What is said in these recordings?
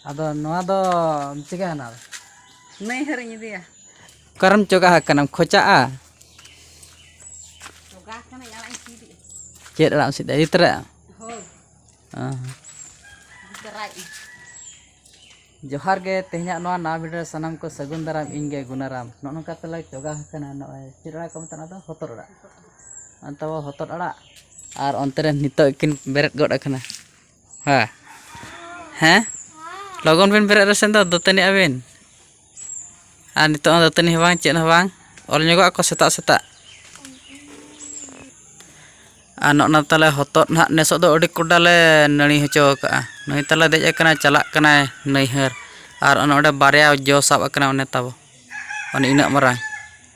ᱟᱫᱚ ᱱᱚᱣᱟ ᱫᱚ ᱪᱤᱠᱟᱹ ᱦᱟᱱᱟ ᱱᱟᱹᱭ ᱦᱟᱹᱨᱤᱧ ᱤᱫᱤᱭᱟ ᱚᱠᱟᱨᱮᱢ ᱪᱚᱜᱟ ᱟᱠᱟᱱᱟᱢ ᱠᱷᱚᱪᱟᱜᱼᱟ ᱪᱚᱜᱟ ᱟᱠᱟᱱᱟᱹᱧ ᱟᱲᱟᱜ ᱤᱧ ᱥᱤᱫᱮᱜᱼᱟ ᱪᱮᱫ ᱟᱲᱟᱜ ᱮᱢ ᱥᱤᱫᱟ ᱤᱫᱤ ᱛᱚᱨᱟᱭᱟ ᱦᱳᱭ ᱤᱫᱤ ᱛᱚᱨᱟᱭᱮᱫᱼᱟᱹᱧ ᱡᱚᱦᱟᱨ ᱜᱮ ᱛᱮᱦᱮᱧᱟᱜ ᱱᱚᱣᱟ ᱱᱟᱣᱟ ᱵᱷᱤᱰᱤᱭᱳ ᱥᱟᱱᱟᱢ ᱠᱚ ᱥᱟᱹᱜᱩᱱ ᱫᱟᱨᱟᱢ ᱤᱧ ᱜᱮ ᱜᱩᱱᱟᱨᱟᱢ ᱱᱚᱜᱼᱚ ᱱᱚᱝᱠᱟ ᱛᱮᱞᱮ ᱪᱚᱜᱟ ᱟᱠᱟᱱᱟ ᱱᱚᱜᱼᱚᱭ ᱪᱮᱫ ᱟᱲᱟᱜ ᱠᱚ ᱢᱮᱛᱟᱜᱼᱟ ᱚᱱᱟ ᱫᱚ ᱦᱚᱛᱚᱫ ᱟᱲᱟᱜ ᱛᱟᱵᱚ ᱦᱚᱛᱚᱫ ᱟᱲᱟᱜ ᱟᱨ ᱚᱱᱛᱮ ᱨᱮ ᱱᱤᱛᱚᱜ ᱠᱤᱱ ᱵᱮᱨᱮᱫ ᱜᱚᱫ ᱟᱠᱟᱱᱟ ᱦᱮᱸ ᱦᱮᱸ ᱞᱚᱜᱚᱱ ᱵᱤᱱ ᱵᱮᱨᱮᱫ ᱨᱮᱥᱮ ᱫᱚ ᱫᱟᱹᱛᱟᱹᱱᱤ ᱟᱹᱵᱤᱱ ᱟᱨ ᱱᱤᱛᱚᱜ ᱦᱚᱸ ᱫᱟᱹᱛᱟᱹᱱᱤ ᱦᱚᱸ ᱵᱟᱝ ᱪᱮᱫ ᱦᱚᱸ ᱵᱟᱝ ᱚᱞ ᱧᱚᱜᱚᱜ ᱟᱠᱚ ᱥᱮᱛᱟᱜ ᱥᱮᱛᱟᱜ ᱟᱨ ᱱᱚᱜᱼᱱᱟ ᱛᱟᱞᱮ ᱦᱚᱛᱚᱫ ᱱᱟᱦᱟᱜ ᱱᱮᱥᱚᱜ ᱫᱚ ᱟᱹᱰᱤ ᱠᱚᱰᱟ ᱞᱮ ᱱᱟᱹᱲᱤ ᱦᱚᱪᱚ ᱟᱠᱟᱫᱼᱟ ᱱᱩᱭ ᱛᱟᱞᱮ ᱫᱮᱡ ᱟᱠᱟᱱᱟᱭ ᱪᱟᱞᱟᱜ ᱠᱟᱱᱟᱭ ᱱᱟᱹᱭᱦᱟᱹᱨ ᱟᱨ ᱚᱱᱮ ᱚᱸᱰᱮ ᱵᱟᱨᱭᱟ ᱡᱚ ᱥᱟᱵ ᱟᱠᱟᱱᱟ ᱚᱱᱮ ᱛᱟᱵᱚ ᱚᱱᱮ ᱤᱱᱟᱹᱜ ᱢᱟᱨᱟᱝ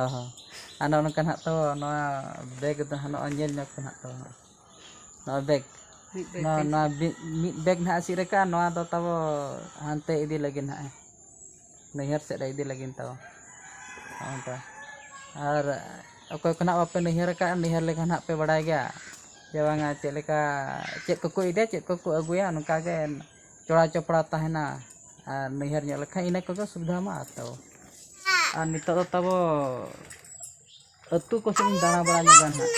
ᱚ ᱦᱚᱸ ᱟᱨ ᱱᱚᱜᱼᱚ ᱱᱚᱝᱠᱟ ᱱᱟᱦᱟᱜ ᱛᱚ ᱱᱚᱣᱟ ᱵᱮᱜᱽ ᱫᱚ ᱱᱟᱦᱟᱜ ᱱᱚᱜᱼᱚᱭ ᱧᱮᱞ ᱧᱚᱜᱽ ᱯᱮ ᱱᱟᱦᱟᱜ ᱛᱚ ᱱᱚᱣᱟ ᱵᱮᱜᱽ ᱢᱤᱫ ᱵᱮᱜᱽ ᱱᱚᱣᱟ ᱱᱚᱣᱟ ᱵᱤ- ᱢᱤᱫ ᱵᱮᱜᱽ ᱱᱟᱦᱟᱜ ᱥᱤᱫ ᱨᱟᱠᱟᱜᱼᱟ ᱱᱚᱣᱟ ᱫᱚ ᱛᱟᱵᱚ ᱦᱟᱱᱛᱮ ᱤᱫᱤ ᱞᱟᱹᱜᱤᱫ ᱱᱟᱦᱟᱜ ᱱᱟᱹᱭᱦᱟᱹᱨ ᱥᱮᱫ ᱨᱮ ᱤᱫᱤ ᱞᱟᱹᱜᱤᱫ ᱛᱟᱵᱚ ᱱᱚᱜᱼᱚ ᱱᱚᱝᱠᱟ ᱟᱨ ᱚᱠᱚᱭ ᱠᱚ ᱱᱟᱦᱟᱜ ᱵᱟᱯᱮ ᱱᱟᱹᱭᱦᱟᱹᱨ ᱟᱠᱟᱫᱼᱟ ᱱᱟᱹᱭᱦᱟᱹᱨ ᱞᱮᱠᱷᱟᱱ ᱱᱟᱦᱟᱜ ᱯᱮ ᱵᱟᱲᱟᱭ ᱜᱮᱭᱟ ᱡᱮ ᱵᱟᱝᱟ ᱪᱮᱫ ᱞᱮᱠᱟ ᱪᱮᱫ ᱠᱚᱠᱚ ᱤᱫᱤᱭᱟ ᱪᱮᱫ ᱠᱚᱠᱚ ᱟᱹᱜᱩᱭᱟ ᱱᱚᱝᱠᱟ ᱜᱮ ᱪᱚᱲᱟ ᱪᱚᱯᱲᱟ ᱛᱟᱦᱮᱱᱟ ᱟᱨ ᱱᱟᱹᱭᱦᱟᱹᱨ ᱧᱚᱜ ᱞᱮᱠᱷᱟᱱ ᱤᱱᱟᱹ ᱠᱚᱜᱮ ᱥᱩᱵᱤᱫᱷᱟ ᱢᱟ ᱛᱚ ᱟᱨ ᱱᱤᱛᱚᱜ ᱫᱚ ᱛᱟᱵᱚ ᱟᱹᱛᱩ ᱠᱚᱥᱮᱫ ᱤᱧ ᱫᱟᱬᱟ ᱵᱟᱲᱟ ᱧᱚᱜᱟ ᱦᱟᱸᱜ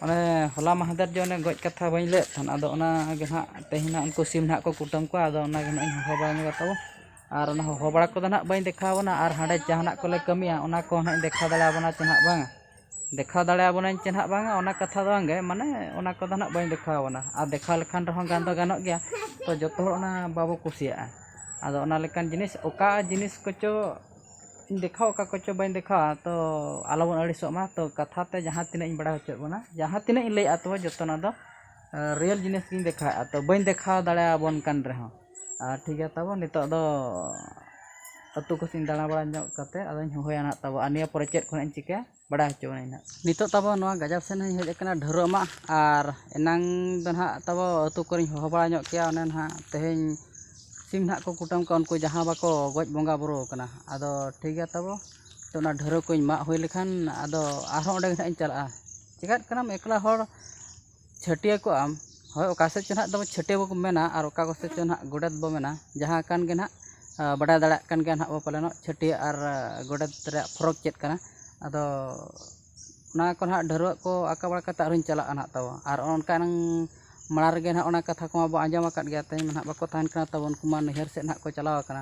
ᱚᱱᱮ ᱦᱚᱞᱟ ᱢᱟᱦᱫᱮᱨ ᱡᱮ ᱚᱱᱮ ᱜᱚᱡ ᱠᱟᱛᱷᱟ ᱵᱟᱹᱧ ᱞᱟᱹᱭᱟᱫ ᱛᱟᱦᱮᱱ ᱟᱫᱚ ᱚᱱᱟ ᱜᱮ ᱦᱟᱸᱜ ᱛᱮᱦᱮᱧ ᱦᱟᱸᱜ ᱩᱱᱠᱩ ᱥᱤᱢ ᱦᱟᱸᱜ ᱠᱚ ᱠᱩᱴᱟᱹᱢ ᱠᱚᱣᱟ ᱟᱫᱚ ᱚᱱᱟ ᱜᱮ ᱦᱟᱸᱜ ᱤᱧ ᱦᱚᱦᱚ ᱵᱟᱲᱟ ᱧᱚᱜᱟ ᱛᱟᱵᱚ ᱟᱨ ᱚᱱᱟ ᱦᱚᱦᱚ ᱵᱟᱲᱟ ᱠᱚᱫᱚ ᱦᱟᱸᱜ ᱵᱟᱹᱧ ᱫᱮᱠᱷᱟᱣ ᱟᱵᱚᱱᱟ ᱟᱨ ᱦᱟᱸᱰᱮ ᱡᱟᱦᱟᱱᱟᱜ ᱠᱚᱞᱮ ᱠᱟᱹᱢᱤᱭᱟ ᱚᱱᱟ ᱠᱚ ᱦᱟᱸᱜ ᱤᱧ ᱫᱮᱠᱷᱟᱣ ᱫᱟᱲᱮ ᱟᱵᱚᱱᱟ ᱥᱮ ᱦᱟᱸᱜ ᱵᱟᱝ ᱫᱮᱠᱷᱟᱣ ᱫᱟᱲᱮ ᱟᱵᱚᱱᱟᱹᱧ ᱪᱮ ᱱᱟᱦᱟᱜ ᱵᱟᱝᱟ ᱚᱱᱟ ᱠᱟᱛᱷᱟ ᱫᱚ ᱵᱟᱝᱜᱮ ᱢᱟᱱᱮ ᱚᱱᱟ ᱠᱚᱫᱚ ᱱᱟᱦᱟᱜ ᱵᱟᱹᱧ ᱫᱮᱠᱷᱟᱣ ᱟᱵᱚᱱᱟ ᱟᱨ ᱫᱮᱠᱷᱟᱣ ᱞᱮᱠᱷᱟᱱ ᱨᱮᱦᱚᱸ ᱜᱟᱱ ᱫᱚ ᱜᱟᱱᱚᱜ ᱜᱮᱭᱟ ᱛᱚ ᱡᱚᱛᱚ ᱦᱚᱲ ᱚᱱᱟ ᱵᱟᱵᱚ ᱠᱩᱥᱤᱭᱟᱜᱼᱟ ᱟᱫᱚ ᱚᱱᱟ ᱞᱮᱠᱟᱱ ᱡᱤᱱᱤᱥ ᱚᱠᱟ ᱡᱤᱱᱤᱥ ᱠᱚᱪᱚ ᱫᱮᱠᱷᱟᱣ ᱚᱠᱟ ᱠᱚᱪᱚ ᱵᱟᱹᱧ ᱫᱮᱠᱷᱟᱣᱟ ᱛᱚ ᱟᱞᱚ ᱵᱚᱱ ᱟᱹᱲᱤᱥᱚᱜ ᱢᱟ ᱛᱚ ᱠᱟᱛᱷᱟ ᱛᱮ ᱡᱟᱦᱟᱸ ᱛᱤᱱᱟᱹᱜ ᱤᱧ ᱵᱟᱲᱟᱭ ᱦᱚᱪᱚᱭᱮᱫ ᱵᱚᱱᱟ ᱡᱟᱦᱟᱸ ᱛᱤᱱᱟᱹᱜ ᱤᱧ ᱞᱟᱹᱭᱮᱫᱼᱟ ᱛᱚ ᱡᱚᱛᱚᱱᱟᱜ ᱫᱚ ᱨᱤᱭᱮᱞ ᱡᱤᱱᱤᱥ ᱜᱤᱧ ᱫᱮᱠᱷᱟᱣᱮᱫᱼᱟ ᱛᱚ ᱵᱟᱹᱧ ᱫᱮᱠᱷᱟᱣ ᱫᱟᱲᱮ ᱟᱵᱚᱱ ᱠᱟᱱ ᱨᱮᱦᱚᱸ ᱟᱨ ᱴᱷᱤᱠ ᱜᱮᱭᱟ ᱛᱟᱵᱚ ᱱᱤᱛᱚᱜ ᱫᱚ ᱟᱹᱛᱩ ᱠᱚᱥᱮᱫ ᱤᱧ ᱫᱟᱬᱟ ᱵᱟᱲᱟ ᱧᱚᱜ ᱠᱟᱛᱮᱫ ᱟᱫᱚᱧ ᱦᱚᱦᱚᱭᱟ ᱱᱟᱦᱟᱜ ᱛᱟᱵᱚ ᱟᱨ ᱱᱤᱭᱟᱹ ᱯᱚᱨᱮ ᱪᱮᱫ ᱠᱚ ᱱᱟᱦᱟᱜ ᱤᱧ ᱪᱤᱠᱟᱹᱭᱟ ᱵᱟᱲᱟᱭ ᱦᱚᱪᱚ ᱢᱤᱭᱟᱹᱧ ᱱᱟᱦᱟᱜ ᱱᱤᱛᱚᱜ ᱛᱟᱵᱚ ᱱᱚᱣᱟ ᱜᱟᱡᱟᱲ ᱥᱮᱫ ᱤᱧ ᱦᱮᱡ ᱟᱠᱟᱱᱟ ᱰᱷᱟᱹᱨᱣᱟᱹᱜ ᱢᱟᱜ ᱟᱨ ᱮᱱᱟᱝ ᱫᱚ ᱱᱟᱦᱟᱜ ᱛᱟᱵᱚ ᱟᱹᱛᱩ ᱠᱚᱨᱮᱧ ᱦᱚᱦᱚ ᱵᱟᱲᱟ ᱧᱚᱜ ᱠᱮᱭᱟ ᱚᱱᱮ ᱱᱟᱦᱟᱜ ᱛᱮᱦᱮᱧ ᱥᱤᱢ ᱱᱟᱦᱟᱜ ᱠᱚ ᱠᱩᱴᱟᱹᱢ ᱠᱚᱣᱟ ᱩᱱᱠᱩ ᱡᱟᱦᱟᱸ ᱵᱟᱠᱚ ᱜᱚᱡ ᱵᱚᱸᱜᱟ ᱵᱳᱨᱳ ᱟᱠᱟᱱᱟ ᱟᱫᱚ ᱴᱷᱤᱠ ᱜᱮᱭᱟ ᱛᱟᱵᱚ ᱛᱳ ᱚᱱᱟ ᱰᱷᱟᱹᱨᱣᱟᱹᱜ ᱠᱚᱧ ᱢᱟᱜ ᱦᱩᱭ ᱞᱮᱠᱷᱟᱱ ᱟᱫᱚ ᱟᱨᱦᱚᱸ ᱚᱸᱰᱮ ᱜᱮ ᱱᱟᱦᱟᱜ ᱤᱧ ᱪᱟᱞᱟᱜᱼᱟ ᱪᱤᱠᱟᱹᱜ ᱠᱟᱱᱟᱢ ᱮᱠᱞᱟ ᱦᱚᱲ ᱪᱷᱟᱹᱴᱭᱟᱹ ᱠᱚᱜ ᱟᱢ ᱦᱳᱭ ᱚᱠᱟ ᱥᱮᱫ ᱪᱚ ᱦᱟᱸᱜ ᱫᱚ ᱪᱷᱟᱹᱴᱭᱟᱹ ᱵᱚᱱ ᱢᱮᱱᱟ ᱟᱨ ᱚᱠᱟ ᱠᱚᱥᱮᱫ ᱪᱚ ᱦᱟᱸᱜ ᱜᱚᱰᱮᱛ ᱵᱚᱱ ᱢᱮᱱᱟ ᱡᱟᱦᱟᱸ ᱠᱟᱱ ᱜᱮ ᱦᱟᱸᱜ ᱵᱟᱰᱟᱭ ᱫᱟᱲᱮᱭᱟᱜ ᱠᱟᱱ ᱜᱮᱭᱟ ᱦᱟᱸᱜ ᱵᱚᱱ ᱯᱟᱞᱮᱱᱚᱜ ᱪᱷᱟᱹᱴᱭᱟᱹ ᱟᱨ ᱜᱚᱰᱮᱛ ᱨᱮᱭᱟᱜ ᱯᱷᱚᱨᱚᱠ ᱪᱮᱫ ᱠᱟᱱᱟ ᱟᱫᱚ ᱚᱱᱟ ᱠᱚ ᱦᱟᱸᱜ ᱰᱷᱟᱹᱨᱣᱟᱹᱜ ᱠᱚ ᱟᱸᱠᱟᱣ ᱵᱟᱲᱟ ᱠᱟᱛᱮᱫ ᱟᱨᱦᱚᱸᱧ ᱪᱟᱞᱟᱜᱼᱟ ᱦᱟᱸᱜ ᱛᱟᱵᱚ ᱟᱨ ᱚᱱᱠᱟ ᱦᱩᱱᱟᱹᱝ ᱢᱟᱲᱟᱝ ᱨᱮᱜᱮ ᱦᱟᱸᱜ ᱚᱱᱟ ᱠᱟᱛᱷᱟ ᱠᱚᱢᱟ ᱵᱚᱱ ᱟᱸᱡᱚᱢ ᱟᱠᱟᱫ ᱜᱮᱭᱟ ᱛᱮᱦᱮᱧ ᱢᱟ ᱦᱟᱸᱜ ᱵᱟᱠᱚ ᱛᱟᱦᱮᱱ ᱠᱟᱱᱟ ᱛᱟᱵᱚᱱ ᱩᱱᱠᱩ ᱢᱟ ᱱᱟᱹᱭᱦᱟᱹᱨ ᱥᱮᱫ ᱦᱟᱸᱜ ᱠᱚ ᱪᱟᱞᱟᱣ ᱠᱟᱱᱟ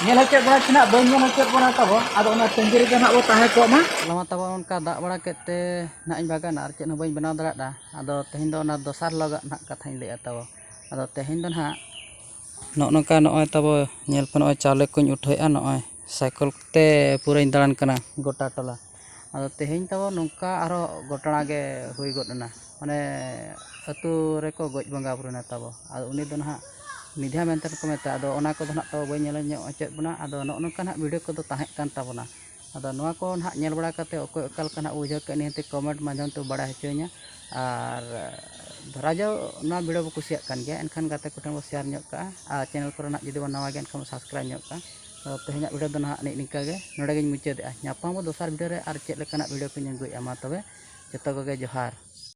ᱧᱮᱞ ᱦᱚᱪᱚ ᱵᱚᱱᱟ ᱛᱤᱱᱟᱹᱜ ᱵᱟᱹᱧ ᱧᱮᱞ ᱦᱚᱪᱚ ᱵᱚᱱᱟ ᱛᱟᱵᱚ ᱟᱫᱚ ᱚᱱᱟ ᱛᱟᱺᱜᱤ ᱨᱮᱜᱮ ᱱᱟᱜ ᱵᱚ ᱛᱟᱦᱮᱸ ᱠᱚᱜ ᱢᱟ ᱦᱚᱞᱟ ᱢᱟ ᱛᱟᱵᱚ ᱚᱱᱠᱟ ᱫᱟᱜ ᱵᱟᱲᱟ ᱠᱮᱫ ᱛᱮ ᱱᱟᱜ ᱤᱧ ᱵᱟᱜᱟᱱᱟ ᱟᱨ ᱪᱮᱫ ᱦᱚᱸ ᱵᱟᱹᱧ ᱵᱮᱱᱟᱣ ᱫᱟᱲᱮᱭᱟᱫᱟ ᱟᱫᱚ ᱛᱮᱦᱮᱧ ᱫᱚ ᱚᱱᱟ ᱫᱚᱥᱟᱨ ᱦᱤᱞᱳᱜᱟᱜ ᱱᱟᱜ ᱠᱟᱛᱷᱟᱧ ᱞᱟᱹᱭᱮᱫᱼᱟ ᱛᱟᱵᱚ ᱟᱫᱚ ᱛᱮᱦᱮᱧ ᱫᱚ ᱱᱟᱜ ᱱᱚᱜᱼᱚ ᱱᱚᱝᱠᱟ ᱱᱚᱜᱼᱚᱭ ᱛᱟᱵᱚ ᱧᱮᱞ ᱯᱮ ᱱᱚᱜᱼᱚᱭ ᱪᱟᱣᱞᱮ ᱠᱚᱧ ᱩᱴᱷᱟᱹᱣᱮᱫᱼᱟ ᱱᱚᱜᱼᱚᱭ ᱥᱟᱭᱠᱮᱞ ᱠᱚᱛᱮ ᱯᱩᱨᱟᱹᱧ ᱫᱟᱬᱟᱱ ᱠᱟᱱᱟ ᱜᱚᱴᱟ ᱴᱚᱞᱟ ᱟᱫᱚ ᱛᱮᱦᱮᱧ ᱛᱟᱵᱚ ᱱᱚᱝᱠᱟ ᱟᱨᱦᱚᱸ ᱜᱷᱚᱴᱚᱱᱟ ᱜᱮ ᱦᱩᱭ ᱜᱚᱫ ᱮᱱᱟ ᱢᱟᱱᱮ ᱟᱹᱛᱩ ᱨᱮᱠᱚ ᱜᱚᱡ ᱵᱚᱸᱜᱟ ᱵᱳᱨᱳᱭᱮᱱᱟ ᱛᱟᱵᱚ ᱟᱫᱚ ᱩᱱᱤ ᱫᱚ ᱱᱟᱦᱟᱜ ᱢᱤᱫᱷᱟ ᱢᱮᱱᱛᱮ ᱠᱚ ᱢᱮᱛᱟᱭᱟ ᱟᱫᱚ ᱚᱱᱟ ᱠᱚᱫᱚ ᱱᱟᱦᱟᱜ ᱛᱟᱵᱚ ᱵᱟᱹᱧ ᱧᱮᱞ ᱧᱚᱜ ᱦᱚᱪᱚᱭᱮᱫ ᱵᱚᱱᱟ ᱟᱫᱚ ᱱᱚᱜᱼᱚ ᱱᱚᱝᱠᱟ ᱱᱟᱦᱟᱜ ᱵᱷᱤᱰᱤᱭᱳ ᱠᱚᱫᱚ ᱛᱟᱦᱮᱸ ᱠᱟᱱ ᱛᱟᱵᱚᱱᱟ ᱟᱫᱚ ᱱᱚᱣᱟ ᱠᱚ ᱱᱟᱦᱟᱜ ᱧᱮᱞ ᱵᱟᱲᱟ ᱠᱟᱛᱮᱫ ᱚᱠᱚᱭ ᱚᱠᱟ ᱞᱮᱠᱟ ᱱᱟᱦᱟᱜ ᱵᱩᱡᱷᱟᱹᱣ ᱠᱮᱫ ᱱᱤᱦᱟᱹᱛᱤ ᱠᱚᱢᱮᱱᱴ ᱢᱟᱫᱽᱫᱷᱚᱢ ᱛᱮ ᱵᱟᱲᱟᱭ ᱦᱚᱪᱚᱭᱤᱧᱟ ᱟᱨ ᱫᱷᱚᱨᱟ ᱡᱟᱣ ᱱᱚᱣᱟ ᱵᱷᱤᱰᱤᱭᱳ ᱵᱚᱱ ᱠᱩᱥᱤᱭᱟᱜ ᱠᱟᱱ ᱜᱮᱭᱟ ᱮᱱᱠᱷᱟᱱ ᱜᱟᱛᱮ ᱠᱚᱴᱷᱮᱱ ᱵᱚᱱ ᱥᱮᱭᱟᱨ ᱧᱚᱜ ᱠᱟᱜᱼᱟ ᱟᱨ ᱪᱮᱱᱮᱞ ᱠᱚᱨᱮ ᱱᱟᱦᱟᱜ ᱡᱩᱫᱤ ᱵᱚᱱ ᱱᱟᱣᱟ ᱜᱮᱭᱟ ᱮᱱᱠᱷᱟᱱ ᱵᱚᱱ ᱥᱟᱵᱥᱠᱨᱟᱭᱤᱵᱽ ᱧᱚᱜ ᱠᱟᱜᱼᱟ ᱛᱮᱦᱮᱧᱟᱜ ᱵᱷᱤᱰᱤᱭᱳ ᱫᱚ ᱱᱟᱦᱟᱜ ᱱᱮᱜ ᱱᱤᱝᱠᱟ ᱜᱮ ᱱᱚᱰᱮ ᱜᱮᱧ ᱢᱩᱪᱟᱹᱫᱮᱜᱼᱟ ᱧᱟᱯᱟᱢ ᱟᱵᱚ ᱫᱚᱥᱟᱨ ᱵᱷᱤᱰᱤᱭᱳ ᱨᱮ ᱟᱨ ᱪᱮᱫ ᱞᱮᱠᱟᱱᱟᱜ ᱵᱷᱤᱰᱤᱭᱳ ᱠᱚᱧ ᱟᱹᱜᱩᱭᱮᱜᱼᱟ ᱢᱟ ᱛᱚᱵᱮ ᱡᱚᱛᱚ ᱠᱚᱜᱮ ᱡᱚᱦᱟᱨ